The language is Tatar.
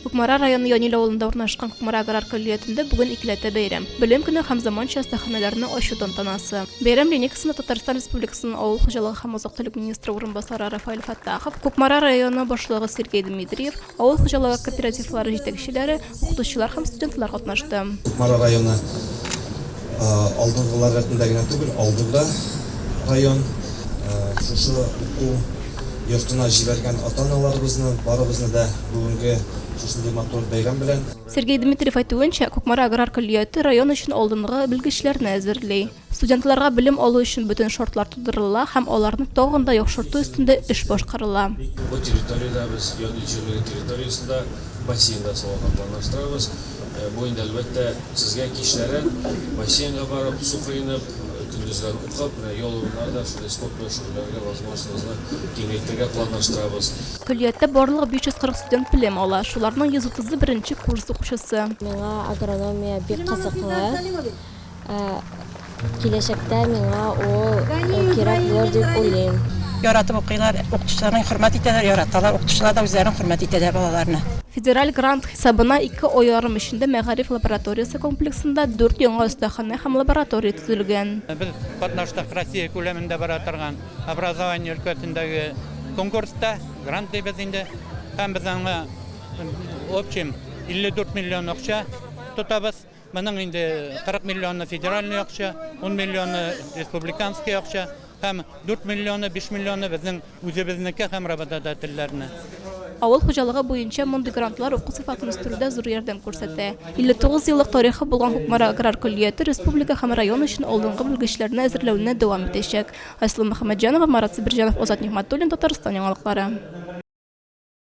Кукмара районы Янил авылында урнашкан Кукмара аграр көллиятендә бүген икеләтә бәйрәм. Белем көне һәм заманча остаханәләрне ачу тантанасы. Бәйрәм линейкасында Татарстан Республикасының авыл хуҗалыгы һәм азык-төлек министры урынбасары Рафаэль Фәттахов, Кукмара районы башлыгы Сергей Дмитриев, авыл хуҗалыгы кооперативлары җитәкчеләре, укытучылар һәм студентлар катнашты. Кукмара районы Алдынгылар рәтендә генә түгел, алды да район. Шушы уку йортына җибәргән ата-аналарыбызны, барыбызны да бүгенге шушындый матур бәйрәм белән! Сергей Дмитриев әйтүенчә, Кукмара аграр көллияте район өчен алдынгы белгечләрне әзерли. Студентларга белем алу өчен бөтен шартлар тудырыла һәм аларны тагын да яхшырту өстендә эш башкарыла. Бу территориядә без яд җирлеге территориясендә бассейн да салырга планлаштырабыз. Бу инде, әлбәттә, сезгә кичләрен бассейнга барып, су коенып, көндезләр укып, менә ял урыннары да шундый спорт белән шөгыльләнергә возможностегызны киңәйтергә планлаштырабыз. Көллияттә барлыгы 540 студент белем ала, шуларның 130-ы беренче курс укучысы. Миңа агрономия бик кызыклы. Ә киләчәктә миңа ул кирәк булыр дип уйлыйм. Яратып укыйлар, укытучыларны хөрмәт итәләр, яраталар, укытучылар да үзләрен хөрмәт итәләр балаларны. Федераль грант хисабына ике ай ярым эчендә мәгариф лабораториясе комплексында дүрт яңа остаханә һәм лаборатория төзелгән. Без катнаштык Россия күләмендә бара торган образование өлкәсендәге конкурста, грант дибез инде, һәм без аңа общем 54 миллион акча тотабыз. Моның инде 40 миллионы федеральный акча, 10 миллионы республиканский акча һәм 4 миллионы, 5 миллионы безнең үзебезнеке һәм работодательләрне. Авыл хуҗалыгы буенча мондый грантлар уку сыйфатын үстерүдә зур ярдәм күрсәтә. 59 еллык тарихы булган Кукмара аграр көллияте республика һәм район өчен алдынгы белгечләрне әзерләүне дәвам итәчәк. Айсылу Мөхәммәтҗанова, Марат Себерҗанов, Азат Нигъмәтуллин, Татарстан яңалыклары.